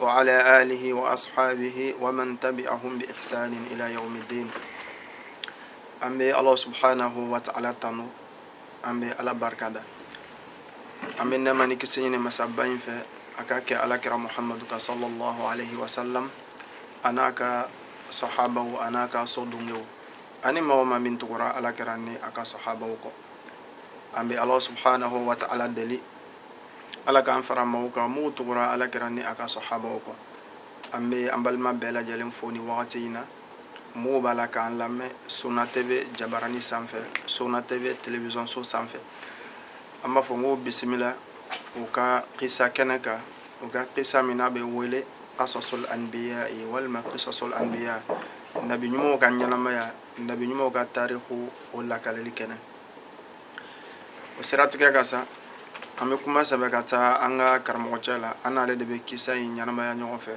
wa ala alihi wa ashabihi wa man tabi'ahum bi ihsanin ila yawmiddin an bɛ ala subhanahu wa ta'ala tanu an bɛ ala barika da an bɛ nɛɛma ni kisi ɲini masaba in fɛ a ka kɛ ala kira muhamadu kan sallallahu alaihi wa sallam a n'a ka sahabaw a n'a ka so dungew ani maa o maa min tugura ala kira ni a ka sahabaw kɔ an bɛ ala subhanahu wa ta'ala deli ala k'an fara maaw kan minnu tugura ala kira ni a ka sahabaw kɔ an bɛ an balima bɛɛ lajɛlen fo nin wagati in na minnu b'a la k'an lamɛn sunna tv jabarani sanfɛ sunna tv television so sanfɛ an b'a fɔ n ko bisimila u ka kisa kɛnɛ kan u ka kisa min n'a bɛ wele qasasul anbiya ye walima qisasul anbiya nabi ɲumanw ka ɲɛnamaya nabi ɲumanw ka tariku o lakaleli kɛnɛ o siratigɛ kan sa an bɛ kuma sɛbɛ ka taa an ka karamɔgɔ cɛ la an n'ale de bɛ kisa in ɲɛnamaya ɲɔgɔn fɛ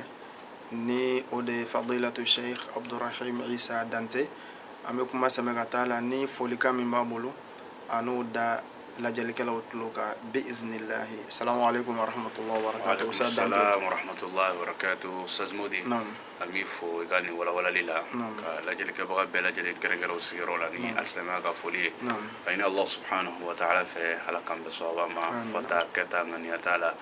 ni o de ye fadilatu sheikh abdurahim isa dante an bɛ kuma sɛbɛ ka taa a la ni folikan min b'a bolo a n'o da lajɛlikɛlaw tulo kan bi iznillahi salamu aleykum warahmatullahi wabarakatuh ustaz dante. an b'i fo i ka nin walawalali la ka lajɛlikɛbaga bɛɛ lajɛlen kɛrɛnkɛrɛn u sigiyɔrɔ la ni alisilamaya ka foli ye k'a ɲini allah subhanahu wa taala fɛ ala k'an bɛn sawaba ma fɔta kɛta ŋaniyata la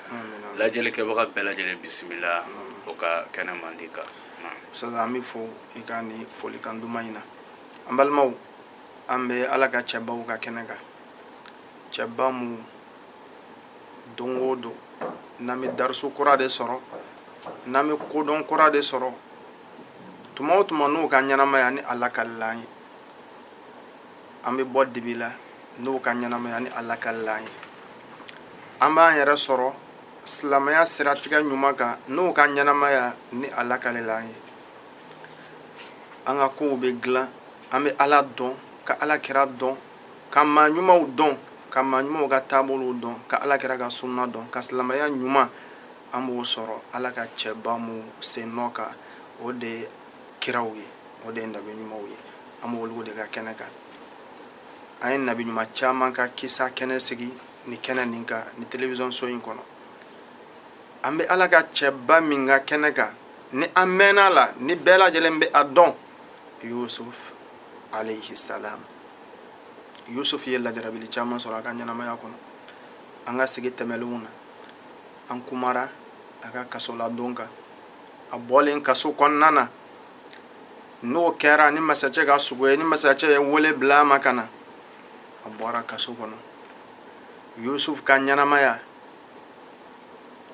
lajɛlikɛbaga bɛɛ lajɛlen bisimila u ka kɛnɛ mandi kan ustaz an b'i fo i ka nin folikan duman in na an balimaw an bɛ ala ka cɛbaw ka kɛnɛ kan cɛba minnu don o don n'an bɛ darisu kura de sɔrɔ n'an bɛ kodɔn kura de sɔrɔ tuma o tuma n'u ka ɲɛnamaya ni a lakalila an ye an bɛ bɔ dibi la n'u ka ɲɛnamaya ni a lakalila an ye an b'an yɛrɛ sɔrɔ silamɛya siratigɛ ɲuman kan n'u ka ɲɛnamaya ni a lakalila an ye an ka kow bɛ dilan an bɛ ala dɔn ka ala kira dɔn ka maa ɲumanw dɔn ka maa ɲumanw ka taabolow dɔn ka ala kira ka sunna dɔn ka silamɛya ɲuman an b'o sɔrɔ ala ka cɛba minnu sen nɔ kan o de ye kiraw ye o de ye nabi ɲumanw ye an b'olu de ka kɛnɛ kan an ye nabi ɲuman caman ka kisa kɛnɛ sigi nin kɛnɛ nin kan nin telewisɔn so in kɔnɔ an bɛ ala ka cɛba min ka kɛnɛ kan ni an mɛnna a la ni bɛɛ lajɛlen bɛ a dɔn yusuf alayhi salam yusuf ye lajarabili caman sɔrɔ a ka ɲɛnamaya kɔnɔ an ka sigi tɛmɛlenw na an kumara a ka kasoladon kan a bɔlen kaso kɔnɔna na n'o kɛra ni masacɛ ka sugo ye ni masacɛ ye wele bila a ma ka na a bɔra kaso kɔnɔ yusuf ka ɲɛnamaya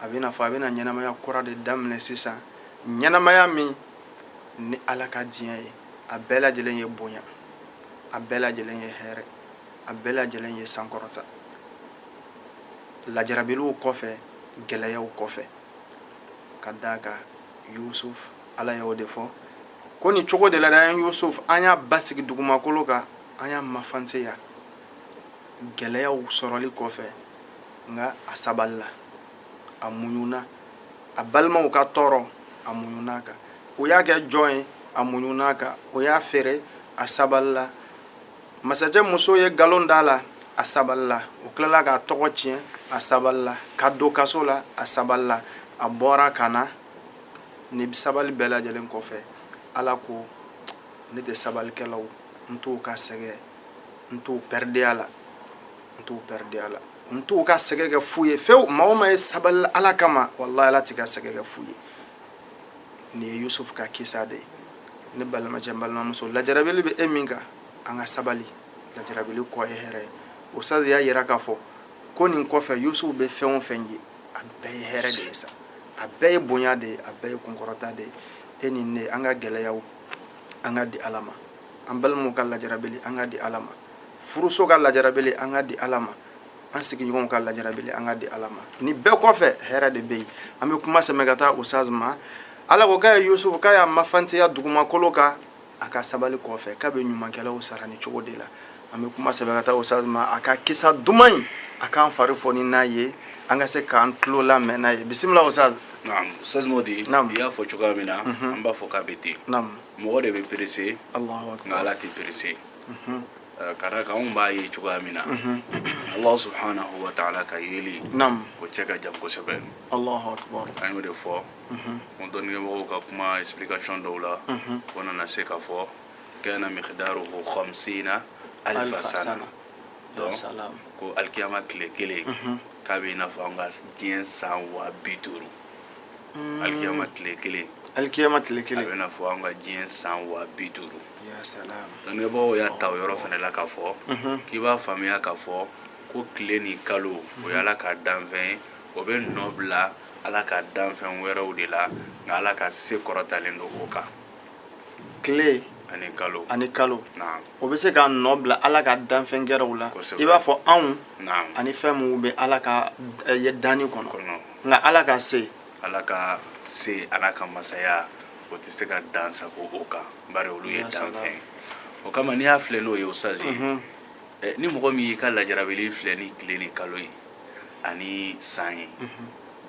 a bɛ n'a fɔ a bɛna ɲɛnamaya kura de daminɛ sisan ɲɛnamaya min ni ala ka diɲɛ ye a bɛɛ lajɛlen ye bonya a bɛɛ lajɛlen ye hɛrɛ a bɛɛ lajɛlen ye sankɔrɔta lajarabiluw kɔfɛ gɛlɛyaw kɔfɛ ka d'a kan yusuf ala y'o de fɔ ko nin cogo de la dɛ an yusuf an y'a basigi dugumakolo kan an y'a mafanteya gɛlɛyaw sɔrɔli kɔfɛ nka a sabalila a muɲuna a balimaw ka tɔɔrɔ a muɲuna a kan o y'a kɛ jɔn ye a muɲuna a kan o y'a feere a sabalila masacɛ muso ye nkalon d'a la a sabalila o tilala k'a tɔgɔ tiɲɛ a sabalila k'a don kaso la a sabalila a bɔra ka na nin sabali bɛɛ lajɛlen kɔfɛ ala ko ne tɛ sabalikɛlaw n t'u ka sɛgɛn n t'u pɛridi a la n t'u pɛridi a la n t'u ka sɛgɛ kɛ fu ye fewu maa o maa ye sabali ala kama walahi ala t'i ka sɛgɛ kɛ fu ye nin ye yusufu ka kisa de ye ne balimacɛ n balimamuso lajarabili bɛ e min kan an ka sabali lajarabili kɔ ye hɛrɛ ye usaz y'a yira k'a fɔ ko nin kɔfɛ yusufu bɛ fɛn o fɛn ye a bɛɛ ye hɛrɛ de ye sa a bɛɛ ye bonya de ye a bɛɛ ye kunkɔrɔta de ye e ni ne an ka gɛlɛyaw an ka di ala ma an balimaw ka lajarabili an ka di ala ma furuso ka lajarabili an ka di ala ma an sigiɲɔgɔnw ka lajarabili an ka di ala ma nin bɛɛ kɔfɛ hɛrɛ de bɛ yen an bɛ kuma sɛmɛ ka taa usaz ma ala ko k'a ye yusufu k'a y'a mafanteya dugumakolo kan a ka sabali kɔfɛ k'a bɛ ɲumankɛlaw sara nin cogo de la an bɛ kuma sɛmɛ ka taa usaz ma a ka kisa duman in a k'an fari foni n'a ye an ka se k'an tulo lamɛn n'a ye bisimila usaz naam ustaz modi naam i y'a fɔ cogoya min na an b'a fɔ k'a bɛ ten naam mɔgɔ de bɛ perese nka ala tɛ perese mhm. eh, ka d'a kan anw b'a ye cogoya min na mhm. ala subhanahu wa taala ka yeli o cɛ ka jan kosɛbɛ an y'o de fɔ ko dɔnnikɛmɔgɔw ka kuma explication dɔw la o nana se k'a fɔ kana miqdaruhu khamsina alfa sana donc ko alikiyama tile kelen k'a bɛ i n'a fɔ an ka diɲɛ san waa bi duuru alikiyama tile kelen alikiyama tile kelen a bɛ i n'a fɔ an ka diɲɛ san waa bi duuru dɔnnikɛbagaw y'a ta o yɔrɔ fana la k'a fɔ k'i b'a faamuya k'a fɔ ko tile ni kalo o ye ala ka danfɛn ye o bɛ nɔ bila ala ka danfɛn wɛrɛw de la nka ala ka se kɔrɔtalen don o kan tile ani kalo ani kalo naam o bɛ se ka nɔ bila ala ka danfɛn gɛrɛw la Kosɛbɛ. i b'a fɔ anw naam ani fɛn minnu bɛ ala ka eh, ye danni kɔnɔ nka ala ka se ala ka se ala ka masaya o tɛ se ka dansagon o kan bari olu ye danfɛn ye o kama n'i y'a filɛ n'o ye ustazi ye ni mɔgɔ min y'i ka lajarabili filɛ ni tile ni kalo ye ani san ye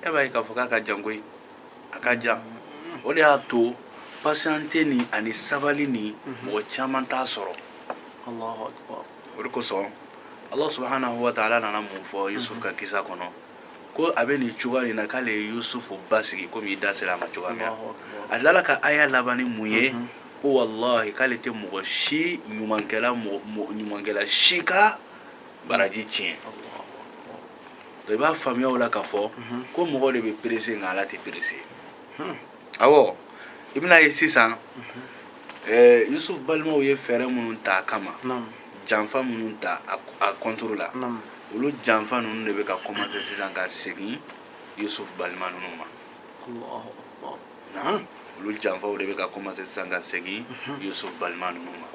e b'a ye k'a fɔ k'a ka jan koyi a ka jan o de y'a to patienter ni ani sabali ni mɔgɔ caman t'a sɔrɔ o de kosɔn ala subhanahu wa taala nana mun fɔ yusuf ka kisa kɔnɔ ko a bɛ nin cogoya nin na k'ale ye yusufu basigi komi i da sera a ma cogoya min na a tilala ka aya laban ni mun ye mhm. ko walahi k'ale tɛ mɔgɔ si ɲumankɛla ɲumankɛla si ka baraji tiɲɛ i b'a faamuya o la k'a fɔ mhm. ko mɔgɔ de bɛ perese nka ala tɛ perese hmm. awɔ i bɛna a ye sisan ɛɛ yusufu balimaw ye fɛɛrɛ minnu ta a kama janfa minnu ta a kɔntoro la olu janfa ninnu de bɛ ka kɔmanse sisan ka segin yusufu balima ninnu ma olu janfaw de bɛ ka kɔmanse sisan ka segin yusufu balima ninnu ma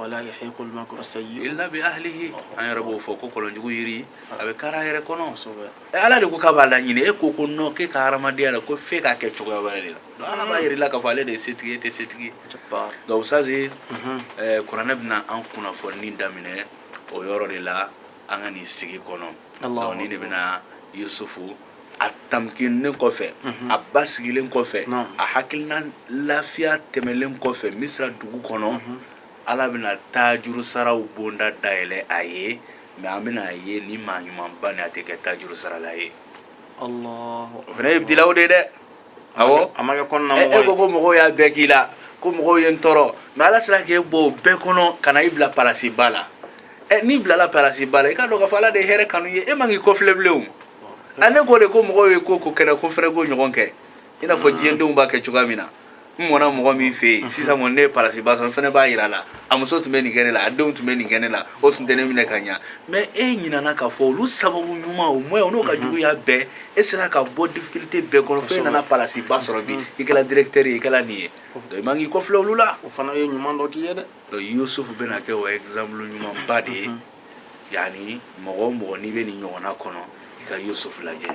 illa bi ahlihi an yɛrɛ b'o fɔ ko kɔlɔnjugu yiri a bɛ kari a yɛrɛ kɔnɔ ala de ko k'a b'a laɲini e ko ko non k'e ka hadamadenya la ko f'e k'a kɛ cogoya wɛrɛ de la donc ala b'a yir'i la k'a fɔ ale de ye setigi e tɛ setigi donc ustazi kuranɛ bɛna an kunnafoni daminɛ o yɔrɔ de la an ka nin sigi kɔnɔ donc ni de bɛna yusufu a tamkinnen kɔfɛ a basigilen kɔfɛ a hakilina lafiya tɛmɛlen kɔfɛ misira dugu kɔnɔ ala bɛna taajuru saraw bonda dayɛlɛ a ye mais an bɛna a ye ni maa ɲumanba ni a tɛ kɛ taajuru sarala ye o fana ye ibitilaw de ye dɛ awɔ a ma kɛ kɔnɔna mɔgɔ ye e ko ko mɔgɔw y'a bɛɛ k'i la ko mɔgɔw ye n tɔɔrɔ mais ala sera k'e bɔ o bɛɛ kɔnɔ ka na i bila palasiba la ɛ n'i bilala palasiba la i k'a dɔn k'a fɔ ala de ye hɛrɛ kanu i ye e man k'i kɔfilɛ bilen o a ne ko de ko mɔgɔw ye ko ko kɛ ne ko n fana b'o ɲɔgɔn kɛ i n'a fɔ diɲɛdenw b'a kɛ cogoya min na n mɔna mɔgɔ min fɛ yen sisan kɔni ne ye palasiba sɔrɔ n fana b'a yira a la a muso tun bɛ nin kɛ ne la a denw tun bɛ nin kɛ ne la o tun tɛ ne minɛ ka ɲa mais e ɲinana k'a fɔ olu sababu ɲuman au moins o n'o ka juguya bɛɛ e sera ka bɔ difficulté bɛɛ kɔnɔ fo e nana palasiba sɔrɔ bi i kɛra directeur ye i kɛra nin ye donc i man k'i kɔfilɛ olu la o fana ye ɲuman dɔ k'i ye dɛ donc yusufu bɛna kɛ o exemple ɲumanba de ye yani mɔgɔ o mɔgɔ n'i bɛ nin ɲɔgɔnna kɔnɔ i ka yusufu lajɛ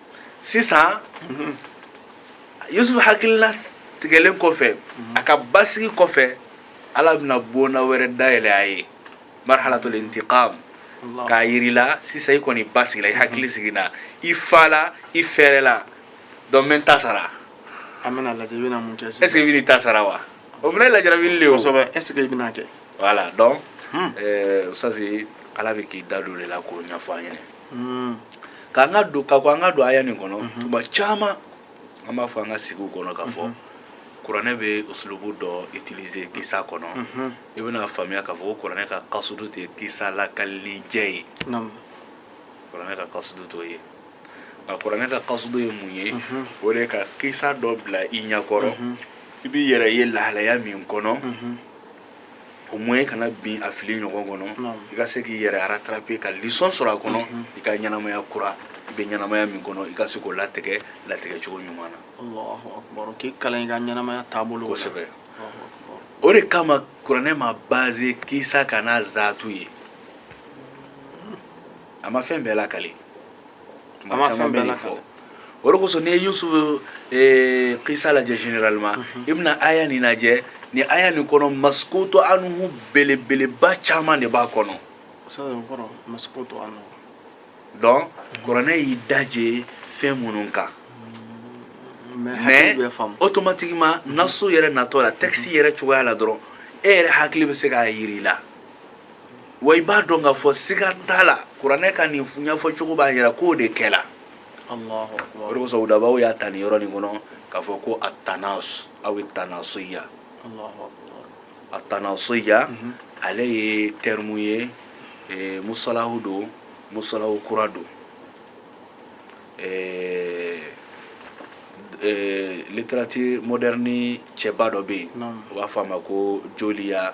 sisan yusufu hakilina sigilen kɔfɛ a ka basigi kɔfɛ ala bɛna bonna wɛrɛ dayɛlɛ a ye marhalatul intiqam k'a yir'i la sisan i kɔni basigila i hakili sigina i fala i fɛrɛla donc n bɛ n ta sara an bɛna lajɛ i bɛna mun kɛ sisan est ce que i bɛn'i ta sara wa o fana ye lajarabili le ye o kosɛbɛ est ce que i bɛna kɛ voilà donc hmm. euh, ustazi ala bɛ k'i da don o de la k'o ɲɛfɔ an ɲɛna mm. ka an ka don ka ko an ka don aya nin kɔnɔ mhm. tuma caman an b'a fɔ an ka sigiw kɔnɔ k'a fɔ mhm. kuranɛ bɛ usulubu dɔ utiliser kisa kɔnɔ mhm. i bɛna faamuya k'a fɔ ko kuranɛ ka kasudu tɛ kisa lakalili jɛ ye kuranɛ ka kasudu t'o ye nka kuranɛ ka kasudu ye mun ye o de ka kisa dɔ bila i ɲɛkɔrɔ i b'i yɛrɛ ye lahalaya min kɔnɔ au moins e kana bin a fili ɲɔgɔn kɔnɔ i ka se k'i yɛrɛ rattraper ka leçon sɔrɔ a kɔnɔ i ka ɲɛnamaya kura i bɛ ɲɛnamaya min kɔnɔ i ka se k'o latigɛ latigɛ cogo ɲuman na k'i kalan i ka ɲɛnamaya taabolo la kosɛbɛ o de kama kuranɛ ma baser kisa kan n'a zaatu ye a ma fɛn bɛɛ lakale tuma caman bɛ nin fɔ o de kosɔn n'i ye yusufu eh, kisa lajɛ généralement mhm. i bɛna aya nin lajɛ ni aya nin kɔnɔ maskutu anhu belebeleba caman de b'a kɔnɔ donc kuranɛ y'i daje fɛn minnu kan mais automatiquement nasu yɛrɛ natɔ la texte yɛrɛ cogoya la dɔrɔn e yɛrɛ hakili bɛ se k'a yir'i la wa i b'a dɔn k'a fɔ siga t'a la kuranɛ ka nin ɲɛfɔ cogo b'a yira k'o de kɛla o de kosɔn udabaw y'a ta nin yɔrɔ nin kɔnɔ k'a fɔ ko atanas aw ye tanasuya atanasuya mhm. ale ye terme ye eh, musalahu don musalahu kura don eh, eh, littérature moderne cɛba dɔ bɛ yen u b'a fɔ a ma ko julia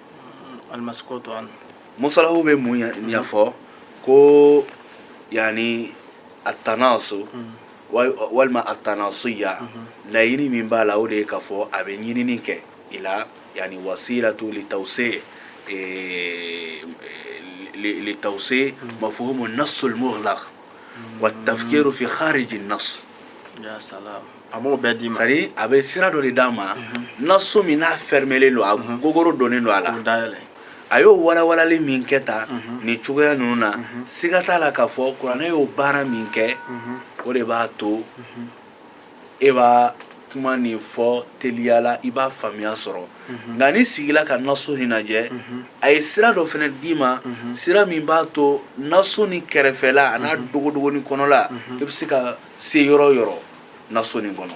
musalahu bɛ mun ɲɛfɔ ko yani atanasu walima atanasuya laɲini min b'a la o de ye k'a fɔ a bɛ ɲinini kɛ i la yani wasilatu li tawsi li tawsi mafhumu nasul mughlaq wa tafkiru fi khariji nas a b'o bɛɛ d'i ma c'est à dire a bɛ sira dɔ de d'a ma mhm. nasu min n'a fɛrɛmɛlen don a mhm. gogoro donnen don a la a y'o walawalali min kɛ tan mhm. nin cogoya ninnu na siga t'a la k'a fɔ kuranɛ y'o baara min kɛ o de b'a to e b'a kuma nin fɔ teliya la i b'a faamuya sɔrɔ mhm. nka n'i sigila ka nasu nin lajɛ mhm. a ye sira dɔ fana d'i ma mhm. sira min b'a to nasu nin kɛrɛfɛla a n'a dogodogonin kɔnɔla i bɛ se ka se yɔrɔ yɔrɔ nasu nin kɔnɔ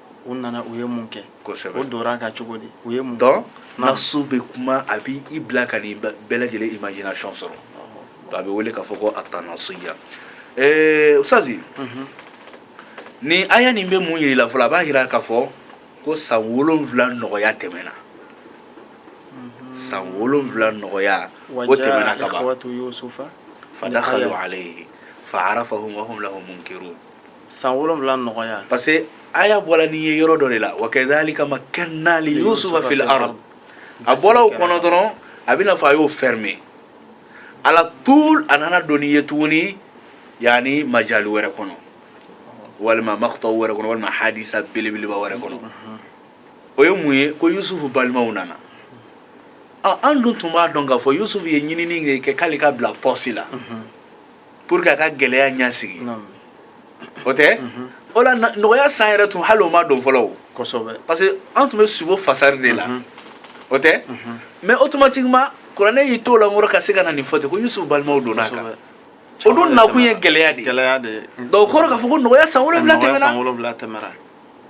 u nana u ye mun kɛ kosɛbɛ o dora ka cogo di u ye mun donc nasu bɛ kuma a b'i i bila ka nin bɛɛ lajɛlen imagination sɔrɔ donc a bɛ wele k'a fɔ ko atanasuya eh, ustazi mhm. nin aya nin bɛ mun yiri la fɔlɔ a b'a yira k'a fɔ ko san wolonwula nɔgɔya tɛmɛna mhm. san wolonwula nɔgɔya o tɛmɛna ka ban fadakhalu alayhi fa'arafahum wa hum lahu munkirun san wolonwula nɔgɔya parce que aya bɔla n'i ye yɔrɔ dɔ de la wa kadhalika makkanna li yusufa fil ard a bɔla o kɔnɔ dɔrɔn a bɛna fɔ a y'o fermer ala tul a nana don n'i ye tuguni yani majali wɛrɛ kɔnɔ walima maqtaw wɛrɛ kɔnɔ walima hadisa belebeleba wɛrɛ kɔnɔ o ye mun ye ko yusufu balimaw nana an dun tun b'a dɔn k'a fɔ yusufu ye ɲinini kɛ k'ale ka bila poste la pour que a ka gɛlɛya ɲɛsigi o tɛ o la nɔgɔya san yɛrɛ tun hali o ma don fɔlɔ o parce que an tun bɛ sugo fasari de la o tɛ mais automatiquement kuranɛ y'i t'o la nkɔrɔ ka se ka na nin fɔ ten ko yusufu balimaw donna a kan o dun nakun ye gɛlɛya de ye donc o kɔrɔ k'a fɔ ko nɔgɔya san wolonwula tɛmɛna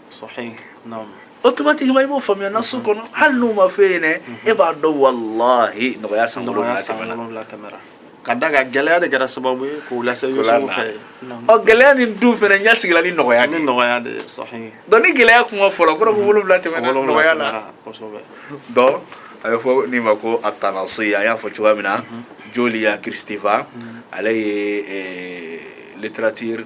sahih naam automatiquement i b'o faamuya nasu kɔnɔ hali n'u ma f'e ɲɛna e b'a dɔn wallahi nɔgɔya san wolonwula tɛmɛna ka d'a kan gɛlɛya de kɛra sababu ye k'u lase yusufu fɛ ɔ gɛlɛya nin dun fɛnɛ ɲɛsigila ni nɔgɔya ni nɔgɔya de sahih donc ni gɛlɛya kuma fɔla o kɔrɔ ko wolonwula tɛmɛna nɔgɔya la kosɛbɛ donc a bɛ fɔ nin ma ko atanasi an y'a fɔ cogoya min na julia kristeva ale ye littérature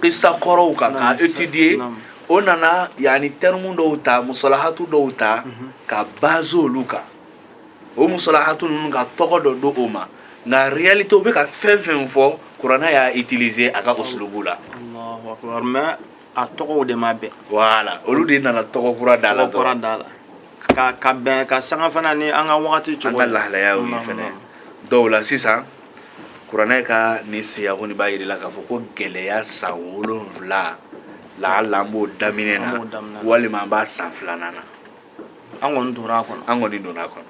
qissa kɔrɔw kan k'a étudier o nana yani terme dɔw ta mustalahatu dɔw ta mhm. ka baser olu kan o mustalahatu ninnu ka tɔgɔ dɔ d'o ma nka réalité u bɛ ka fɛn fɛn fɔ kuranɛ y'a utiliser a ka usulubu la a tɔgɔw de ma bɛn voilà olu de nana tɔgɔ kura da la tɔgɔ kura da la ka ka bɛn ka sanga fana ni an ka wagati cogo an ka lahalayaw ye fɛnɛ dɔw la sisan kuranɛ ka nin siyaku nin b'a yiri la k'a fɔ ko gɛlɛya san wolonwula laala an b'o daminɛ na walima an b'a san filanan na an kɔni donna a kɔnɔ an kɔni donna a kɔnɔ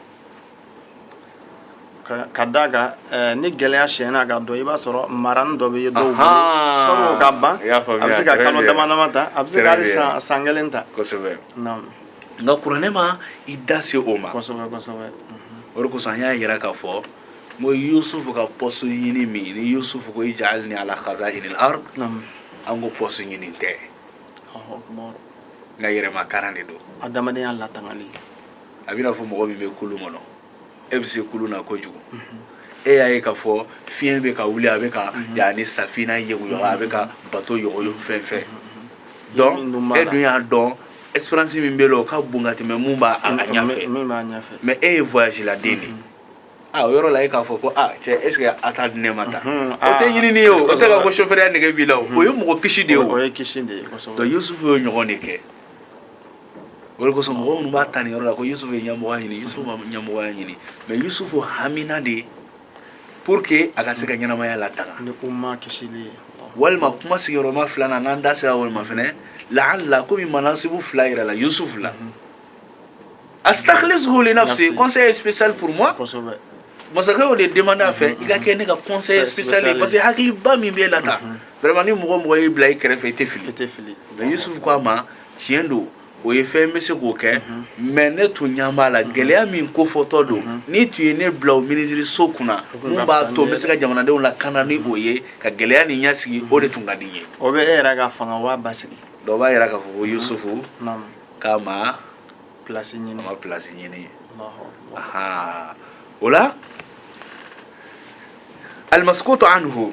ka da a kan eh, ni gɛlɛya siyɛnna ka don i b'a sɔrɔ maranin dɔ bɛ yen dɔw bolo sɔrɔ ka ban a bɛ se ka kalo dama dama ta a bɛ se ka hali san san kelen ta kosɛbɛ nka kuranɛ ma i da se o ma kosɛbɛ kosɛbɛ o de kosɔn an y'a yira k'a fɔ n ko yusufu ka pɔsi ɲini min ni yusufu ko ij'alni ala khaza'inil ard an ko pɔsi ɲini tɛ nka yɛrɛmakaran de don adamadenya latangali a b'i n'a fɔ mɔgɔ min bɛ kulun kɔnɔ e bɛ se kulun na kojugu e y'a ye k'a fɔ fiɲɛ bɛ ka wuli a bɛ ka yani safina yɛguyɔgɔ a bɛ ka bato yɔgɔyɔgɔ fɛn fɛn donc e dun y'a dɔn expérience min b'e la o ka bon ka tɛmɛ min b'a ɲɛfɛ mais e ye voyage la den de ye a o yɔrɔ la e k'a fɔ ko a cɛ est ce que a t'a di ne ma tan o tɛ ɲinini ye o o tɛ ka ko chauffeur ya nege b'i la o o ye mɔgɔ kisi de ye o donc yusufu y'o ɲɔgɔn de kɛ O de kosɔn mɔgɔ minnu b'a ta nin yɔrɔ la ko Yusufu ye ɲɛmɔgɔya ɲini Yusufu ma ɲɛmɔgɔya ɲini mais Yusufu hamina de pour que a ka se ka ɲɛnamaya latanga ni umma kisili ye walima kuma sigiyɔrɔma filanan n'an da sera walima fɛnɛ laala komi manasibu fila yirala Yusufu la astakhlisuhu li nafsi conseiller spécial pour moi kosɛbɛ masakɛ y'o de demande a fɛ i ka kɛ ne ka conseiller spécial ye parce que hakiliba min b'e la tan vraiment ni mɔgɔ mɔgɔ y'i bila i kɛrɛfɛ i tɛ fili i tɛ fili mais Yusufu ko a ma tiɲɛ don o ye fɛn bɛ se k'o kɛ mais ne tun ɲɛ b'a la gɛlɛya min kofɔtɔ don n'i tun ye ne bila o minisiri so kunna min b'a to n bɛ se ka jamanadenw lakana ni o ye ka gɛlɛya nin ɲɛsigi o de tun ka di n ye o bɛ e yɛrɛ ka fanga waa basigi dɔw b'a yira k'a fɔ ko yusufu k'a ma pilasi ɲini ma pilasi ɲini o la almaskutu anhu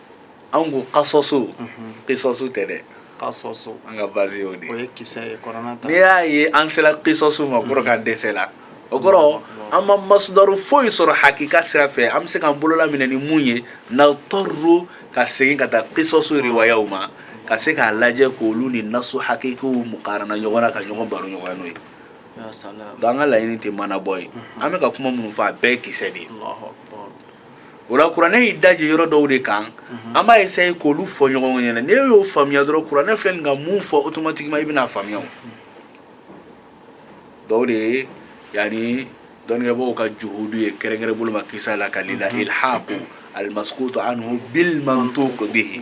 anw ko kasɔsu kisɔsu tɛ dɛ kasɔsu an ka base y'o de o ye kisɛ ye kuranɛ ta n'i y'a ye an sera kisɔsu ma kɔrɔ k'an dɛsɛla o kɔrɔ an ma masudaru foyi sɔrɔ hakika sira fɛ an bɛ se k'an bolo laminɛ ni mun ye nadtarru ka segin ka taa kisɔsu riwayaw ma ka se k'a lajɛ k'olu ni nasu hakikiw mukarana ɲɔgɔn na ka ɲɔgɔn baro ɲɔgɔn n'o ye donc an ka laɲini tɛ manabɔ ye an bɛ ka kuma minnu fɔ a bɛɛ ye kisɛ de ye o la kuranɛ y'i daje yɔrɔ dɔw de kan mhm. an b'a essaye k'olu fɔ ɲɔgɔn ɲɛna n'e y'o faamuya dɔrɔn kuranɛ filɛ nin ka mun fɔ automatiquement i bɛn'a faamuya o dɔw de ye yani dɔnnikɛbaaw ka juhudu ye kɛrɛnkɛrɛn bolo ma kisa lakali la mhm. ilhaqu almaskutu anhu bilmantuq bihi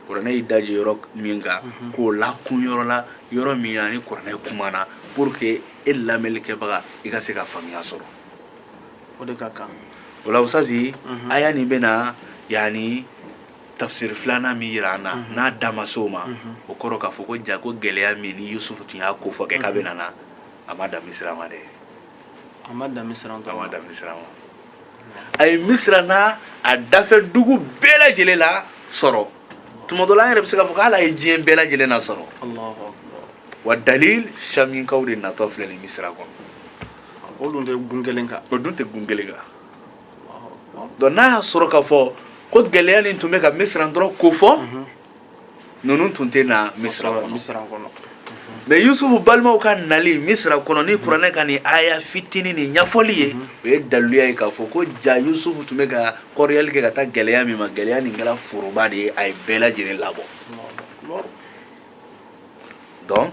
kuranɛ y'i daje yɔrɔ min kan mhm. k'o lakun yɔrɔ la yɔrɔ min na ni kuranɛ kumana pour que e lamɛnlikɛbaga i ka se ka faamuya sɔrɔ o de ka kan o la usazi mhm. aya nin bɛna yani tafsiri filanan min yira an na mhm. n'a da ma s'o ma mhm. o kɔrɔ k'a fɔ ko ja ko gɛlɛya min ni yusufu tun y'a ko fɔ kɛ k'a bɛna na a ma dan misira ma dɛ a ma dan misira ma a ma dan misira ma a ye misira n'a a dafɛ dugu bɛɛ lajɛlen lasɔrɔ tuma dɔ la an yɛrɛ bɛ se k'a fɔ k'ala ye diɲɛ bɛɛ lajɛlen nasɔrɔ wa dalil shaminkaw de natɔ filɛ nin misira kɔnɔ o dun tɛ gun kelen kan donc n'a y'a sɔrɔ k'a fɔ ko gɛlɛya nin tun bɛ ka misira dɔrɔn kofɔ ninnu tun tɛ na misira kɔnɔ mais yusufu balimaw ka nali misira kɔnɔ ni kuranɛ ka nin aya fitinin nin ɲɛfɔli ye o ye daliluya ye k'a fɔ ko jaa yusufu tun bɛ ka kɔriyali kɛ ka taa gɛlɛya min ma gɛlɛya nin kɛra foroba de ye a ye bɛɛ lajɛlen labɔ donc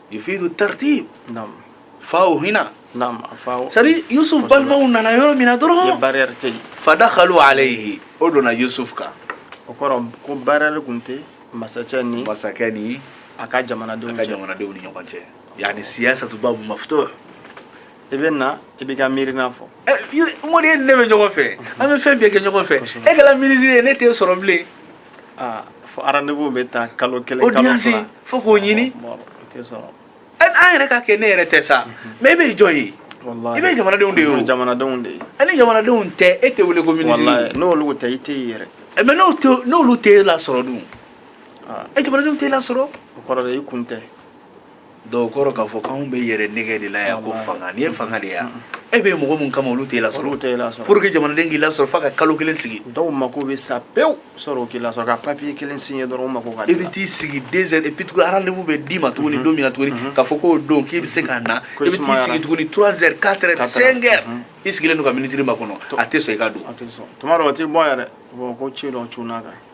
yufidu tartib naam faw hina naam faw sari yusuf balimaw nana yɔrɔ min na dɔrɔn barrière tɛ yen fadakhalu alayhi o donna yusuf kan o kɔrɔ ko barrière tun tɛ masakɛ ni masakɛ ni a ka jamanadenw cɛ a ka jamanadenw ni ɲɔgɔn cɛ yani siyasatu babu maftuh i bɛ na i b'i ka miirina fɔ mɔden ne bɛ ɲɔgɔn fɛ an bɛ fɛn bɛɛ kɛ ɲɔgɔn fɛ e kɛra minisiri ye ne t'e sɔrɔ bilen Fo rendez-vous bɛ taa kalo kelen audience fo k'o ɲini an yɛrɛ ka kɛ ne yɛrɛ tɛ sa mais e bɛ jɔn ye i bɛ jamanadenw de ye jamanadenw de ye ni jamanadenw tɛ e tɛ wele ko minisiri n'olu tɛ i tɛ yɛrɛ mais n'olu tɛ e lasɔrɔ dun jamanadenw t'e lasɔrɔ o kɔrɔ de i kun tɛ Donc o kɔrɔ k'a fɔ k'anw bɛ yɛrɛ nɛgɛn de la yan ko fanga nin ye fanga de yan e bɛ mɔgɔ min kama olu t'i lasɔrɔ pour que jamanaden k'i lasɔrɔ f'a ka kalo kelen sigi dɔw mako bɛ sa pewu sɔrɔ k'i lasɔrɔ ka papiye kelen signer dɔrɔn mako i bɛ t'i sigi deux heures et puis rendez-vous bɛ d'i ma tuguni don min na tuguni k'a fɔ k'o don k'i bɛ se ka na i bɛ t'i sigi tuguni trois heures quatre heures cinq heures i sigilen don ka minisiri makɔnɔ a tɛ sɔn i ka don tuma dɔw o tɛ bɔ yɛrɛ ko ci dɔn c kan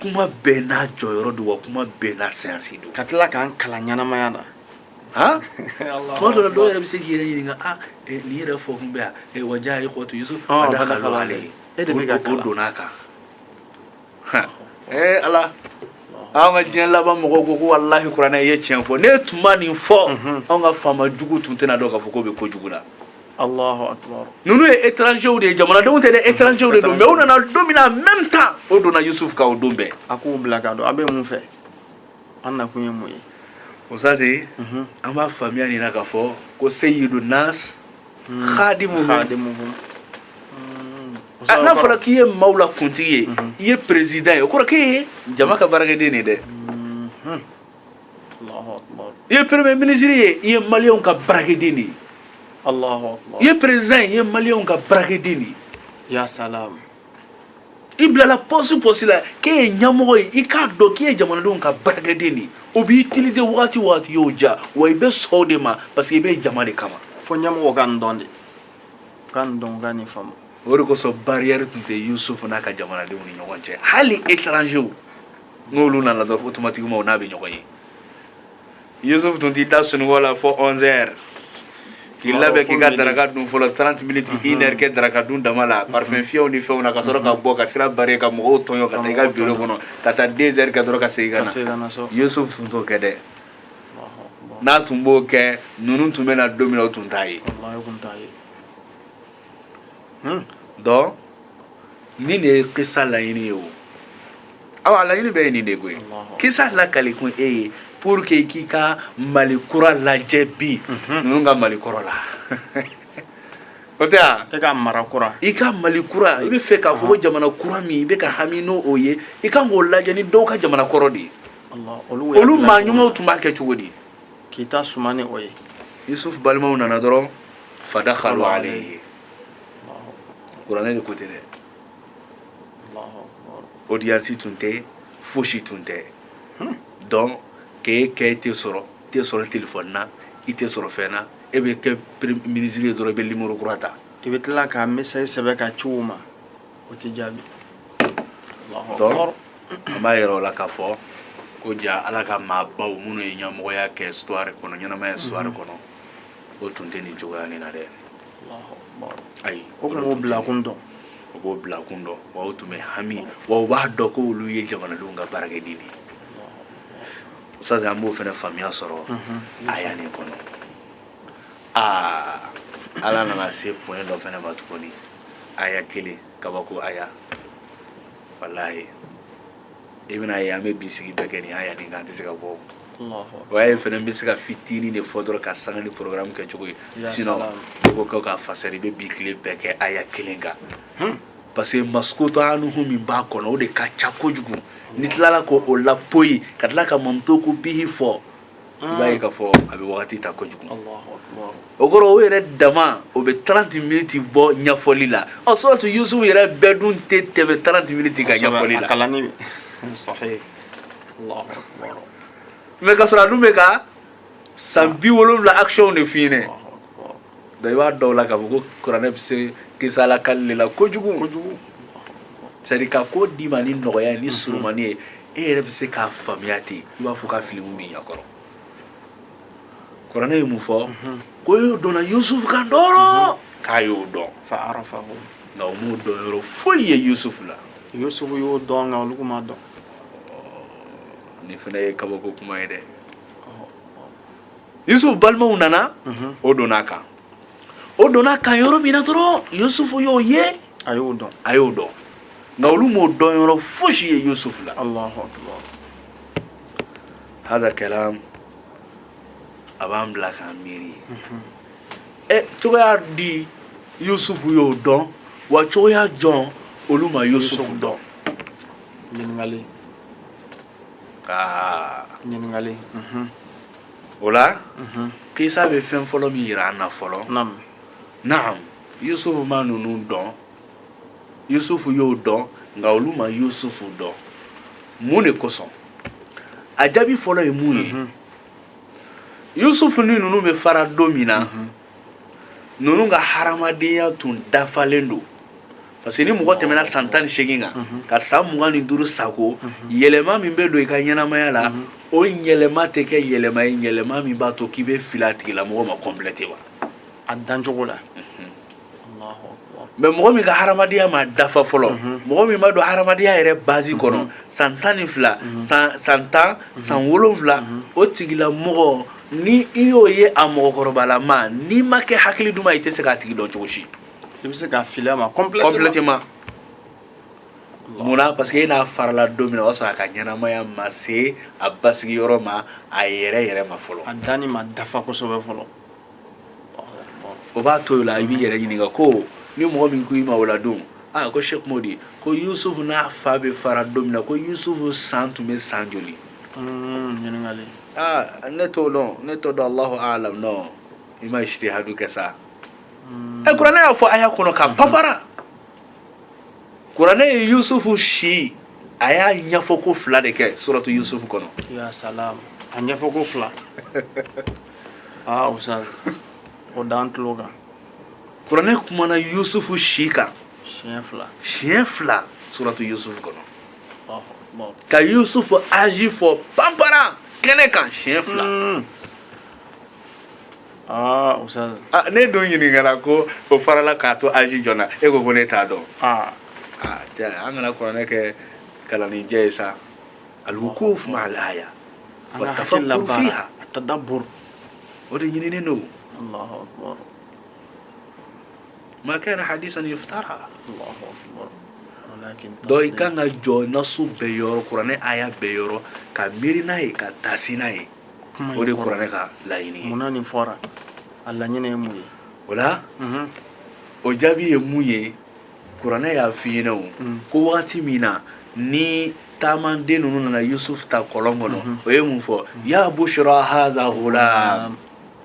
kuma bɛɛ n'a jɔyɔrɔ don wa kuma bɛɛ n'a séance don ka tila k'an kalan ɲɛnamaya na han tuma dɔ la dɔw yɛrɛ bɛ se k'i yɛrɛ ɲininka a nin yɛrɛ fɔ kun bɛ yan wa jaa ikhwatu yusuf fadakhalu alayhi e de bɛ ka kalan o donna a kan ee ala anw ka diɲɛ laban mɔgɔw ko ko walahi kuranɛ ye tiɲɛ fɔ n'e tun ma nin fɔ anw ka faama jugu tun tɛna dɔn k'a fɔ k'o bɛ ko jugu la ninnu ye étrangers de ye jamanadenw tɛ dɛ étrangers de don mais u nana don min na en même temps o donna yusuf kan o don bɛɛ a k'u bila ka don a bɛ mun fɛ a nakun ye mun ye usazi mhm. an b'a faamuya nin na k'a fɔ ko seyidu nas hmm. khadimu khadimuhum ah, n'a fɔra k'i ye maaw la kuntigi ye mhm. i ye président ye o kɔrɔ k'e ye jama ka baarakɛden de dɛ mhm. i ye premier ministre ye i ye maliyɛnw ka baarakɛden de ye i ye président ye i ye maliyɛnw ka baarakɛden de ye ya salam i bilala pɔsi pɔsi la k'e ye ɲɛmɔgɔ ye i k'a dɔn k'i ye jamanadenw ka baarakɛden de ye o b'i utiliser wagati wagati y'o ja wa i bɛ sɔn o de ma parce que i bɛ jama de kama fo ɲɛmɔgɔ ka nin dɔn de ka nin dɔn ka nin faamu o de kosɔn barrière tun tɛ Yusufu n'a ka jamanadenw ni ɲɔgɔn cɛ hali étrangers n'olu nana dɔrɔn automatiquement o n'a bɛ ɲɔgɔn ye yusufu tun t'i da sunɔgɔ la fo 11 heures k'i labɛn k'i ka daraka dun fɔlɔ 30 minutes une heure kɛ daraka dun dama la parfum fiyɛw ni fɛnw na ka sɔrɔ ka bɔ ka sira barrer ka mɔgɔw tɔɲɔ ka taa i ka bureau kɔnɔ ka taa 2 heures kɛ dɔrɔn ka segin ka na yusufu tun t'o kɛ dɛ n'a tun b'o kɛ ninnu tun bɛ na don min na o tun t'a ye Hmm. donc nin de ye kisa laɲini ye o awa laɲini bɛɛ ye nin de koyi kisa lakali kun e ye pour que k'i ka mali kura lajɛ bi mhm. ninnu ka mali kɔrɔ la o tɛ yan e ka mara kura i ka mali kura i bɛ fɛ k'a fɔ ko jamana kura min i bɛ ka hami n'o ye i kan k'o lajɛ ni dɔw ka jamana kɔrɔ de ye olu maa ɲumanw tun b'a kɛ cogo di k'i ta suma ni o ye yusufu balimaw nana dɔrɔn fadakhalu alayhi kuranɛ de ko ten dɛ audience tun tɛ fosi tun tɛ donc k'e kɛ i tɛ sɔrɔ i tɛ sɔrɔ telefɔni na i tɛ sɔrɔ fɛn na e bɛ kɛ minisiri ye dɔrɔn i bɛ nimoro kura ta i bɛ tila ka message sɛbɛn ka ci u ma o tɛ jaabi donc an b'a ye de o la k'a fɔ ko ja ala ka maabaw minnu ye ɲɛmɔgɔya kɛ histoire kɔnɔ ɲɛnamaya histoire kɔnɔ o tun tɛ nin cogoya nin na dɛ ayi o kun b'o bilakun dɔn o b'o bilakun dɔn wa o tun bɛ hami wa o b'a dɔn ko olu ye jamanadenw ka baarakɛden de ye sase an b'o fana faamuya sɔrɔ aya nin kɔnɔ aa ala nana se point dɔ fana ma tuguni aya kelen kabako aya walayi i bɛn'a ye an bɛ bi sigi bɛɛ kɛ nin aya nin kan an tɛ se ka bɔ O aya fana n bɛ se ka fitinin de fɔ dɔrɔn ka sanga ni programme kɛ cogo ye sinon ko k'a fasari i bɛ bi tile bɛɛ kɛ aya kelen kan parce que maskutu anhu min b'a kɔnɔ o de ka ca kojugu n'i tilala k'o lapoyi ka tila ka mantuku bihi fɔ i b'a ye k'a fɔ a bɛ waati ta kojugu o kɔrɔ o yɛrɛ dama o bɛ tanranti miniti bɔ ɲɛfɔli la ɔ suratu Yusufu yɛrɛ bɛɛ dun tɛ tɛmɛ tanranti miniti ka ɲɛfɔli la mɛ ka sɔrɔ a dun bɛ ka san bi wolonwula action de f'i ɲɛna donc i b'a dɔn o la k'a fɔ ko kuranɛ bɛ se kisa lakali de la kojugu kojugu c'est à dire ka ko d'i ma ni nɔgɔya ye ni surumani ye e yɛrɛ bɛ se k'a faamuya ten i b'a fɔ k'a filimu b'i ɲɛ kɔrɔ kuranɛ ye mun fɔ ko y'o donna yusufu kan dɔrɔn k'a y'o dɔn fa arafahu nka o m'o dɔn yɔrɔ foyi ye yusufu la yusufu y'o dɔn nka olu m'a dɔn nin fana ye kabako kuma ye dɛ yusufu balimaw nana o donna a kan o donna a kan yɔrɔ min na dɔrɔn yusufu y'o ye a y'o dɔn a y'o dɔn nka olu m'o dɔn yɔrɔ fosi ye yusufu la alahu akibar hada kalam a b'an bila k'an miiri ɛ cogoya di yusufu y'o dɔn wa cogoya jɔn olu ma yusufu dɔn ɲininkali aa ɲininkali mhm. o la kisa bɛ fɛn fɔlɔ min yira an na fɔlɔ naam naam yusufu ma ninnu dɔn yusufu y'o dɔn nka olu ma yusufu dɔn mun de kosɔn a jaabi fɔlɔ ye mun ye yusufu ni ninnu bɛ fara don min na ninnu ka hadamadenya tun dafalen don parce que ni mɔgɔ tɛmɛna san tan ni seegin kan ka san mugan ni duuru sago yɛlɛma min bɛ don i ka ɲɛnamaya la o yɛlɛma tɛ kɛ yɛlɛma ye yɛlɛma min b'a to k'i bɛ fili a tigilamɔgɔ ma complète wa a dancogo la mɛ mɔgɔ min ka hadamadenya ma dafa fɔlɔ mɔgɔ min bɛ don hadamadenya yɛrɛ bazi kɔnɔ san tan ni fila san tan san wolonfila o tigilamɔgɔ ni i y'o ye a mɔgɔkɔrɔbalama n'i ma kɛ hakili duman i tɛ se k'a tigi dɔn cogo si i bɛ se ka fili a ma complètement munna parce que e n'a farala don min na o y'a sɔrɔ a ka ɲɛnamaya ma se a basigi yɔrɔ ma a yɛrɛ yɛrɛ ma fɔlɔ a danni ma dafa kosɛbɛ fɔlɔ o b'a to o la i b'i yɛrɛ ɲininka ko ni mɔgɔ min ko i ma o la don aa ko sɛki modi ko yusufu n'a fa bɛ fara don min na ko yusufu san tun bɛ san joli ɲininkali aa ne t'o dɔn ne t'o dɔn alahu alam non i ma ijtihadu kɛ sa ɛ kuranɛ y'a fɔ aya kɔnɔ k'a panpara kuranɛ ye yusufu si a y'a ɲɛfɔko fila de kɛ suratu yusufu kɔnɔ ya salam a ɲɛfɔko fila aa ustaz o d'an tulo kan kuranɛ kumana yusufu si kan siɲɛ fila siɲɛ fila suratu yusufu kɔnɔ ka yusufu aji fɔ panpara kɛnɛ kan siɲɛ fila hmm. ah, ah, ne dun ɲininkara ko o farala k'a to aji jɔn na e ko ko ne t'a dɔn ah. an kana kuranɛ kɛ kalanjɛ ye sa alwukuf ma alaya watafakuru fiha atadabur o de ɲininen don ma kana hadisan yuftara donc i kan ka jɔ nasu bɛɛ yɔrɔ kuranɛ aya bɛɛ yɔrɔ ka miiri n'a ye ka taasi n'a ye o de kuranɛ ka laɲini ye munna nin fɔra a laɲini ye mun ye o la mhm. o jaabi ye mun ye kuranɛ y'a f'i ɲɛna o mm. ko wagati min na ni taamanden ninnu nana yusuf ta kɔlɔn kɔnɔ mhm. o ye mun fɔ mm. ya bushra haza ghulam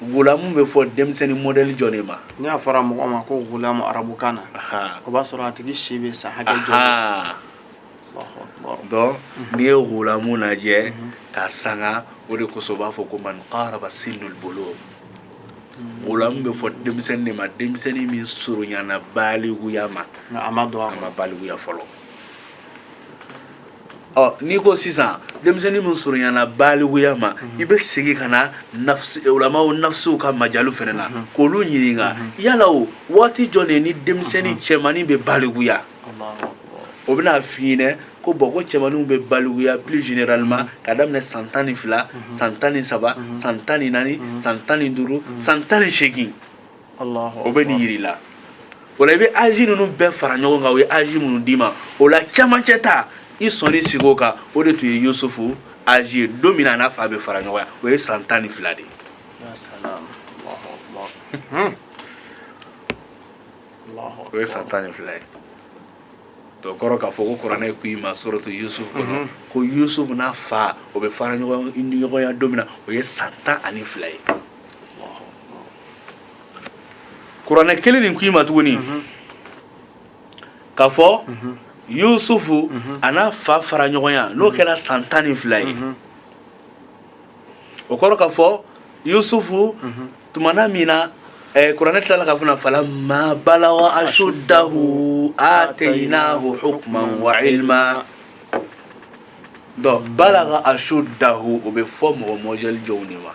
Ghulamu bɛ fɔ denmisɛnnin mɔdɛli jɔn de ma ni a fɔra mɔgɔ ma ko ghulamu arabukan na o b'a sɔrɔ a tigi si bɛ san hakɛ jɔn n'i ye ghulamu lajɛ ka sanga o de kosɔn b'a fɔ ko man qaraba sinnul bulugh ghulamu bɛ fɔ denmisɛnnin de ma denmisɛnnin min surunyana baliguya ma a ma don a ma baliguya fɔlɔ ɔ n'i ko sisan denmisɛnnin min surunyana baliguya ma i bɛ segin ka na ulamaw nafsiw ka majalu fana na k'olu ɲininka yala o waati jɔn de ye ni denmisɛnnin cɛmannin bɛ baliguya o bɛna f'i ɲɛna ko bon ko cɛmanninw bɛ baliguya plus généralement ka daminɛ san tan ni fila san tan ni saba san tan ni naani san tan ni duuru san tan ni seegin o bɛ nin jira i la o la i bɛ aji ninnu bɛɛ fara ɲɔgɔn kan o ye aji minnu d'i ma o la camancɛ ta i sɔnin sigi o kan o de tun ye yusufu aji ye don min na a n'a fa bɛ fara ɲɔgɔn na o ye san tan ni fila de ye o ye san tan ni fila ye to kɔrɔ k'a fɔ ko kuranɛ ko i ma suratu yusuf kɔnɔ mhm. ko yusuf n'a fa o bɛ fara ɲɔgɔn na don min na o ye san tan ani fila ye kuranɛ kelen nin k'i ma tuguni k'a fɔ yusufu a n'a fa fara ɲɔgɔn na n'o kɛra san tan ni fila ye o kɔrɔ k'a fɔ yusufu tumana min na eh, kuranɛ tilala k'a fɔ na falamma balaga ashuddahu atainahu hukman wa ilma donc balaga ashuddahu o bɛ fɔ mɔgɔ mɔdɛli jɔnw de ma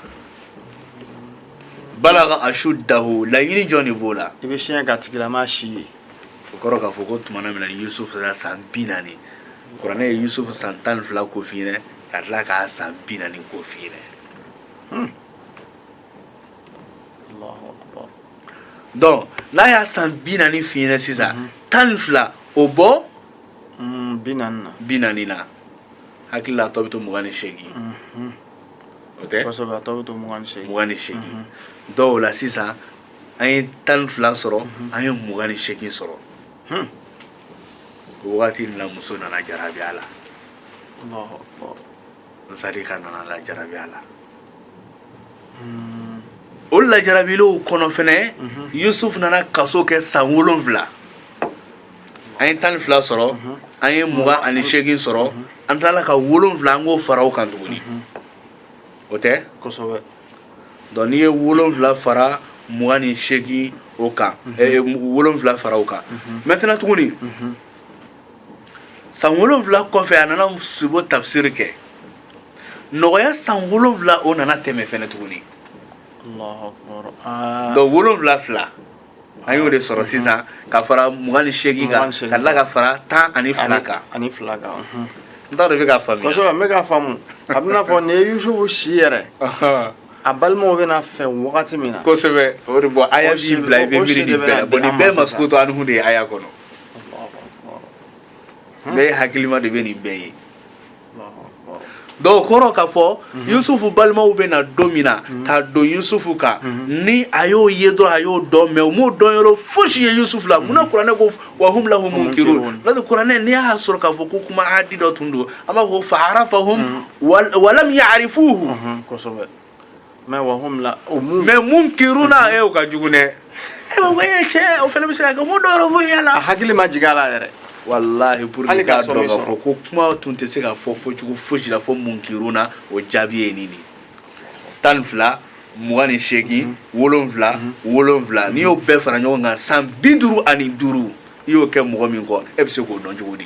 balaga ashuddahu laɲini jɔn de b'o la i bɛ siɲɛ ka tigilama si ye o kɔrɔ k'a fɔ ko tumana min na yusuf sera san bi naani kuranɛ ye yusuf san tan ni fila ko f'i ɲɛna ka tila k'a san bi naani ko f'i ɲɛna donc n'a y'a san bi naani f'i ɲɛna sisan tan ni fila o bɔ mm, bi naani na bi naani na n hakili la a tɔ bɛ to mugan ni seegin mhm. o tɛ kosɛbɛ a tɔ bɛ to mugan ni seegin mugan ni seegin mhm. donc o la sisan an ye tan ni fila sɔrɔ mhm. an ye mugan ni seegin sɔrɔ hmm. o wagati in na muso nana jarabi a la zalika nana la jarabi a la hmm. o la jarabilen kɔnɔ fɛnɛ yusufu nana kaso kɛ san wolonfila an ye tan ni fila sɔrɔ an ye mugan ani seegin sɔrɔ an tilala ka wolonfila an k'o fara o kan tuguni o tɛ kosɛbɛ donc n'i ye wolonfila fara mugan ni seegin o kan eh, wolonfila fara o kan maintenant tuguni san wolonfila kɔfɛ a nana sibo tafsiri kɛ nɔgɔya san wolonfila o nana tɛmɛ fɛnɛ tuguni donc wolonfila fila an y'o de sɔrɔ sisan ka fara mugan ni seegin kan ka tila ka fara tan ani fila kan ani fila kan n t'a dɔn i bɛ k'a faamuya kosɛbɛ n bɛ k'a faamu a bɛna fɔ nin ye yusufu si yɛrɛ a balimaw bɛ na a fɛ wagati min na kosɛbɛ o de bɔ aya b'i bila i bɛ miiri nin bɛɛ la bon nin bɛɛ maskutu anhu de ye aya kɔnɔ bɛɛ hakilima de bɛ nin bɛɛ ye donc o kɔrɔ k'a fɔ mhm. yusufu balimaw bɛ na don min na mhm. ka don yusufu kan mhm. ni a y'o ye dɔrɔn a y'o dɔn mais u m'o dɔnyɔrɔ fosi ye yusufu la munna kuranɛ ko wa hum lahu munkirun n'o tɛ kuranɛ n'i y'a sɔrɔ k'a fɔ ko kuma adi dɔ tun don an b'a fɔ fa arafahum walam ya'rifuhu kosɛbɛ mais wa hum lahu mun mais munkiruna e o ka jugu dɛ e ma ko e cɛ o fana bɛ se ka kɛ mun dɔw fɔ yɛrɛ la a hakili ma jigin a la yɛrɛ walahi pour que k'a dɔn k'a fɔ ko kuma tun tɛ se ka fɔ fɔcogo fosi la fo munkiruna o jaabi ye nin de tan ni fila mugan ni seegin mhm. wolonfila mhm. wolonfila n'i y'o bɛɛ fara ɲɔgɔn kan san bi duuru ani duuru i y'o kɛ mɔgɔ min kɔ e bɛ se k'o dɔn cogo di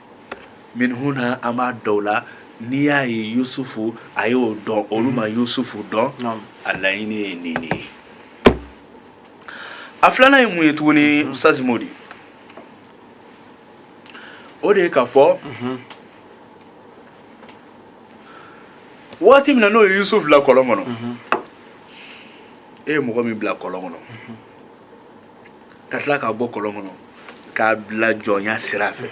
min huna an b'a dɔn o la n'i y'a ye yusufu a y'o dɔn olu ma yusufu dɔn a laɲini ye nin de ye a filanan ye mun ye tuguni ustazi modi o de ye k'a fɔ waati min na n'o ye yusufu bila kɔlɔn kɔnɔ e ye mɔgɔ min bila kɔlɔn kɔnɔ ka tila k'a bɔ kɔlɔn kɔnɔ k'a bila jɔnya sira fɛ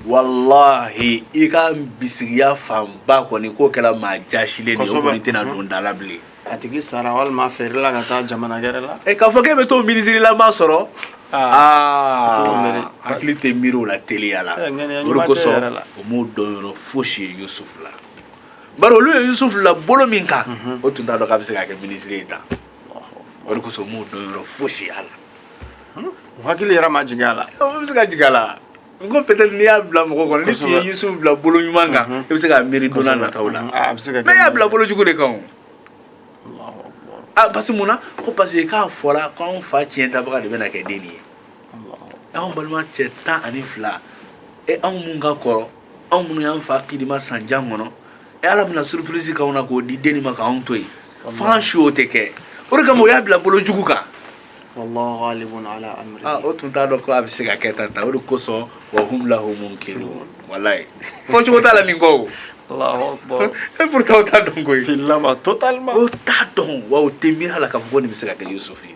walahi i ka bisigiya fanba kɔni k'o kɛra maa jasilen de ye o kɔni tɛna don da la bilen a tigi sara walima a feerela ka taa jamana gɛrɛ la e k'a fɔ k'e bɛ t'o minisirilama sɔrɔ hakili tɛ miiri o la teliya la o de kosɔn o m'o dɔnyɔrɔ fosi ye yusufu la bari olu ye yusufu la bolo min kan o tun t'a dɔn k'a bɛ se ka kɛ minisiri ye tan O de kosɔn m'o dɔn yɔrɔ fosi y'a la o hakili yɛrɛ ma jigin a la o bɛ se ka jigin a la n ko peut-être n'i y'a bila mɔgɔ kɔnɔ n'i tun ye Yusufu bila bolo ɲuman kan i bɛ se k'a miiri don n'a nataw la a bɛ se ka kɛ mais i y'a bila bolo jugu de kan o ah parce que mun na ko parce que k'a fɔra ko anw fa ciyɛn tabaga de bɛna kɛ den nin ye anw balima cɛ tan ani fila e anw mun ka kɔrɔ anw minnu y'an fa kidima san jan kɔnɔ e ala bɛna surprise k'anw na k'o di den nin ma k'anw to yen fo an su o tɛ kɛ o de kama o y'a bila bolo jugu kan wallahu ghalibun ala amri ah o tun t'a dɔn ko a bɛ se ka kɛ tan tan o de kosɔn wa hum lahu munkirun walayi fɔ cogo t'a la nin kɔ o Allahu akbar e pourtant o t'a dɔn koyi fil'a ma totalement o t'a dɔn wa o tɛ miiri a la k'a fɔ ko nin bɛ se ka kɛ yusufu ye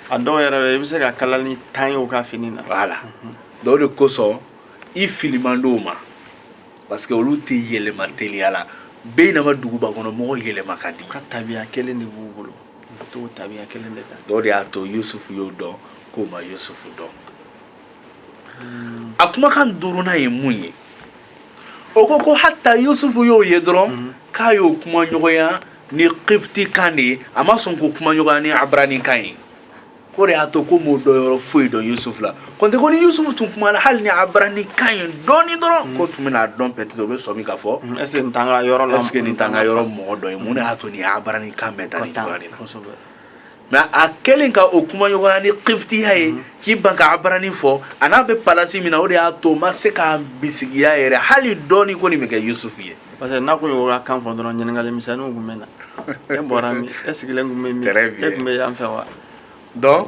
a dɔw yɛrɛ i bɛ se ka kalani tan ye u ka fini na voilà donc o de kosɔn i fili man d'o ma parce que olu tɛ yɛlɛma teliya la bɛɛ in nama duguba kɔnɔ mɔgɔ yɛlɛma ka di ka tabiya kelen de b'u bolo ka t'o tabiya kelen de kan donc o de y'a to yusufu y'o dɔn k'o ma yusufu dɔn a kumakan duurunan ye mun ye o ko ko hatta yusufu y'o ye dɔrɔn k'a y'o kuma ɲɔgɔnya ni kibiti kan de ye a ma sɔn k'o kuma ɲɔgɔnya ni abarani kan ye o de y'a to ko m'o dɔn yɔrɔ foyi dɔn yusufu la kɔntɛ ko ni yusufu tun kumana hali ni abarani kan ye dɔɔni dɔrɔn mm. k'o tun bɛna a dɔn peut-être o bɛ sɔmi k'a fɔ mm, est-ce que nin t'an ka yɔrɔ la est-ce que nin t'an ka yɔrɔ mɔgɔ dɔ ye mun de y'a to nin abarani kan bɛ taa nin cogoya de la mais a kɛlen ka o kumaɲɔgɔnya ni kifitiya ye mhm. k'i ban ka abarani fɔ a n'a bɛ palasi min na o de y'a to o ma se k'a bisigiya yɛrɛ hali dɔɔni ko nin bɛ kɛ yusufu ye parce que n'a tun y'o ka kan fɔ dɔrɔn ɲininkali misɛnninw tun bɛ na e bɔra min e sigilen tun bɛ min e tun bɛ yan fɛ wa donc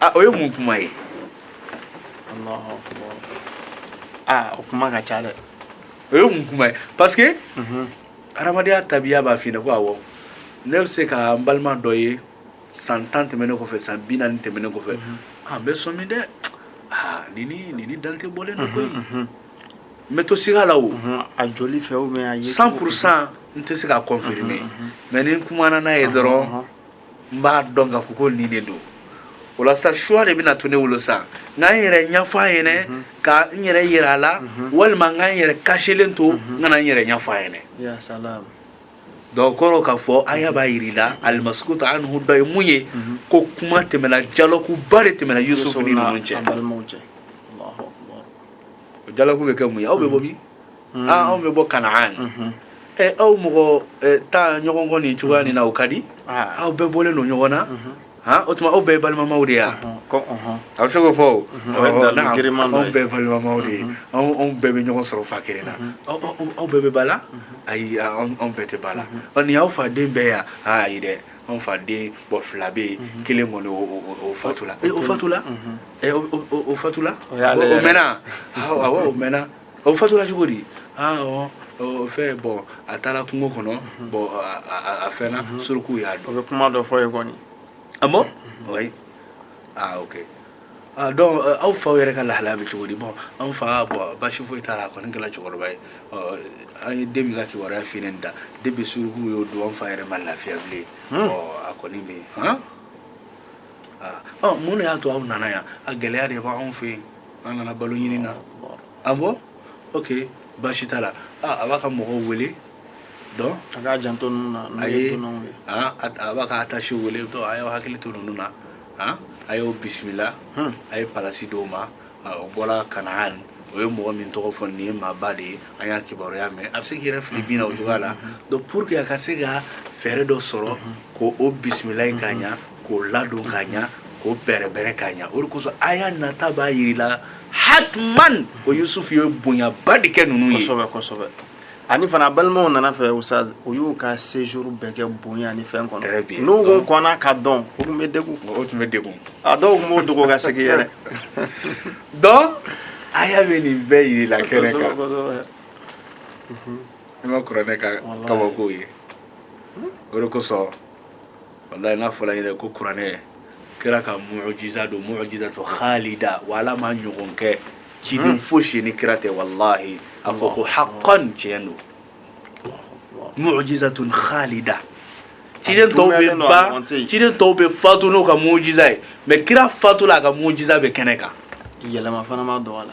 a o ye mun kuma ye Allahu akbar. Ah, o kuma ka ca dɛ o ye mun kuma ye parce que Mhm. hadamadenya tabiya b'a f'i ɲɛna ko awɔ ne bɛ se ka n balima dɔ ye san tan tɛmɛnen kɔfɛ san bi naani tɛmɛnen kɔfɛ a n bɛ sɔmi dɛ aa nin ni nin ni dante bɔlen don koyi Mhm. n bɛ to siga la o Mhm. a joli fɛ ou bien a ye cent pour cent n tɛ se k'a confirmer mais ni n kumana n'a ye dɔrɔn n b'a dɔn k'a fɔ ko nin de don o la sa choix de bɛna to ne bolo sa n ka n yɛrɛ ɲɛfɔ a ɲɛnɛ mhm. ka n yɛrɛ yira a la mhm. walima n ka n yɛrɛ cachélen to mhm. n kana n yɛrɛ ɲɛfɔ a ɲɛnɛ donc o kɔrɔ k'a fɔ aya b'a yir'i la almaskutu anhu dɔ ye mun ye ko kuma tɛmɛna dialogue ba de tɛmɛna yusufu ni ninnu cɛ o dialogue bɛ kɛ mun ye aw bɛ bɔ min mm. ah, anw bɛ bɔ kanaan mm-hmm. ɛ eh, aw mɔgɔ eh, tan ɲɔgɔn kɔ nin cogoya nin na o ka di ah. aw bɛɛ bɔlen don ɲɔgɔn na mm-hmm. ah, o tuma aw bɛɛ ye balimamaw de ye a a bɛ se k'o fɔ o anw bɛɛ ye balimamaw de ye anw bɛɛ bɛ ɲɔgɔn sɔrɔ fa kelen na aw bɛɛ bɛ ba la ayi anw bɛɛ tɛ ba la nin y'aw faden bɛɛ ye ayi dɛ anw faden mɔgɔ fila bɛ yen mhm. kelen kɔni o fatula o fatula o fatula o mɛnna awɔ o mɛnna o fatula cogo di aa ɔ ɔ fɛn bɔn a taala kungo kɔnɔ bɔn a- a a fɛnna suruku y'a dun o bɛ kuma dɔ fɔ ye kɔni Ah bon Oui. Ah, ok. Ah, donc, euh, aw fa yɛrɛ ka lahalaya bɛ cogo di bɔn an fa bɔn basi foyi t'a la a kɔni kɛla cɛkɔrɔba ye Ɔ, an ye den min ka kibaruya f'i ɲɛna depuis suruku y'o dun an fa yɛrɛ ma lafiya bilen Ɔ, a kɔni bɛ yen hɔn Ah, ɔ, mun de y'a to aw nana yan a gɛlɛya de b'anw fɛ yen an nana balo ɲini na ah bon ok baasi t'a la ah, a b'a ka mɔgɔw wele donc a k'a janto ninnu na a ye ah, a b'a ka attaché wele dɔn a y'aw hakili to ninnu na ah, a y'o bisimila hmm. a ye palasi d'o ma o bɔla kanaan o ye mɔgɔ min tɔgɔ fɔ nin ye maaba de ye an y'a kibaruya mɛn a bɛ se k'i yɛrɛ fili bin na o cogoya la donc pour que a ka se ka fɛɛrɛ dɔ sɔrɔ k'o bisimila ka ɲa k'o ladon ka ɲa k'o bɛrɛbɛrɛ ka ɲa o de kosɔn aya nata b'a yirila hatman ko yusufu ye bonyaba de kɛ ninnu ye kosɛbɛ kosɛbɛ ani fana balimaw nana fɛn ustaz u y'u ka séjour bɛɛ kɛ bonya ni fɛn kɔnɔ Très bien. n'u kun kɔnna k'a dɔn u tun bɛ degun o tun bɛ degun a dɔw tun b'o dogo ka segin yɛrɛ donc aya bɛ nin bɛɛ yirila kɛnɛ Kosɛbɛ, kan kosɛbɛ. i ma kuranɛ ka Wallahi. kabako ye o de kosɔn walayi n'a fɔla yɛrɛ ko kuranɛ kira ka mujiza don mujizatu khalida wa ala m'a ɲɔgɔn kɛ ciden fosi ni kira tɛ walahi a fɔ ko haqqan tiɲɛ don mu'jizatun khalida ciden tɔw bɛ ban ciden tɔw bɛ fatu n'u ka mu'jiza ye mais kira fatula a ka mu'jiza bɛ kɛnɛ kan yɛlɛma fana ma don a la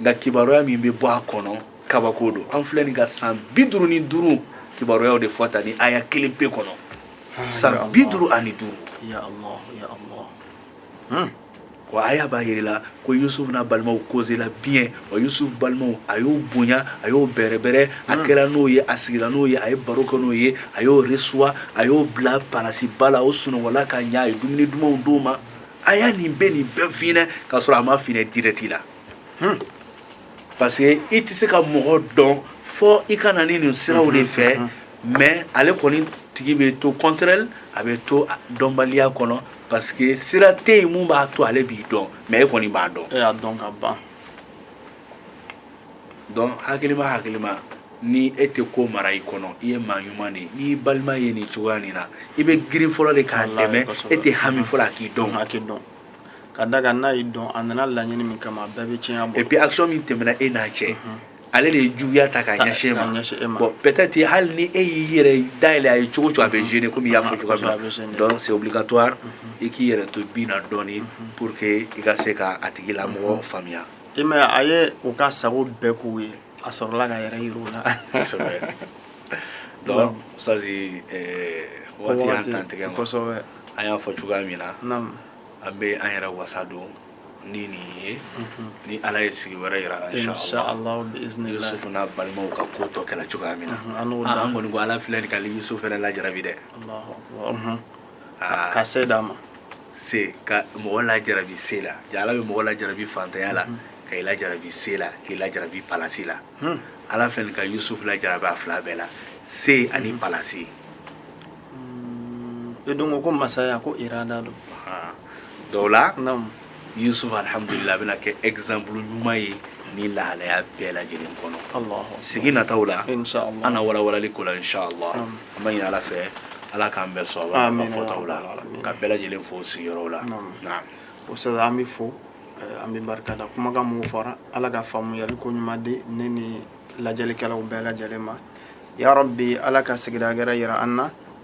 nka kibaruya min bɛ bɔ a kɔnɔ kabako don an filɛ nin ka san bi duuru ni duuru kibaruyaw de fɔ tan nin aya kelen pe kɔnɔ ah, san bi duuru ani duuru hmm. wa aya b'a yirila ko yusufu n'a balimaw kozela bien wa yusufu balimaw a y'o bonya a y'o bɛrɛbɛrɛ a hmm. kɛla n'o ye a sigila n'o ye a ye baro kɛ n'o ye a y'o resuwa a y'o bila palasiba la o sunɔgɔla ka ɲa a ye dumuni dumanw d'o ma aya nin bɛ nin bɛɛ f'i ɲɛna k'a sɔrɔ a m'a f'i ɲɛna direct la hmm. parce que i tɛ se ka mɔgɔ dɔn fɔ i ka na ni nin siraw de fɛ hmm, hmm, mais ale kɔni tigi bɛ to contraire a bɛ to dɔnbaliya kɔnɔ parce que sira tɛ yen mun b'a to ale b'i dɔn mais e kɔni b'a dɔn. e y'a dɔn ka ban. donc hakilima hakilima ni e tɛ ko mara i kɔnɔ i ye maa ɲuman de ye n'i balima ye nin cogoya nin na i bɛ girin fɔlɔ de k'a dɛmɛ e tɛ hami fɔlɔ a k'i dɔn a k'i dɔn ka d'a kan n'a y'i dɔn a nana laɲini min kama a bɛɛ bɛ tiɲɛ a bolo et puis action min tɛmɛna e n'a cɛ ale de ye juguya ta k'a ɲɛsin e ma bon peut-être hali ni e y'i yɛrɛ dayɛlɛ a ye cogo cogo a bɛ gêner komi i y'a fɔ cogoya min na donc c'est obligatoire i k'i yɛrɛ to bi na dɔɔni pour que i ka se ka a tigilamɔgɔ faamuya I m'a ye a ye u ka sago bɛɛ k'u ye a sɔrɔla k'a yɛrɛ yir'u la kosɛbɛ donc ça c'est waati y'an tantigɛ ma kosɛbɛ an y'a fɔ cogoya min na naam an bɛ an yɛrɛ wasa don ni nin ye mhm. ni ala ye sigi wɛrɛ yira an na inshallah yusufu n'a balimaw ka ko tɔ kɛla cogoya min na mhm, an kɔni ko ala filɛ nin ka yusufu fɛnɛ lajarabi dɛ mhm. ah. ka se d'a ma se ka mɔgɔ lajarabi se la jaa ala bɛ mɔgɔ lajarabi fantanya la mm-hmm. ka i lajarabi se la k'i lajarabi palasi la hmm. ala filɛ nin ka yusuf lajarabi a fila bɛɛ la se ani mm-hmm. palasi hmm. e don ko masaya ko irada don ah. dɔw la Yusuf alihamudulila a bɛna kɛ exemple ɲuman ye ni lahalaya bɛɛ lajɛlen kɔnɔ. Alahu. Sigi nataw la. Inch'Allah. An na walawalali ko la inch'Allah. Naamu. An b'a ɲini Ala fɛ Ala k'an bɛɛ sɔn a Amina ka fɔtaw la yarabi alamina. ka bɛɛ lajɛlen fo sigiyɔrɔw la. Naamu. Naam. Oustaz an b'i fo eh, an b'i barika da kumakan minnu fɔra Ala ka faamuyali ko ɲuman di ne ni lajɛlikɛlaw bɛɛ lajɛlen ma yarabi Ala ka sigida wɛrɛ jira an na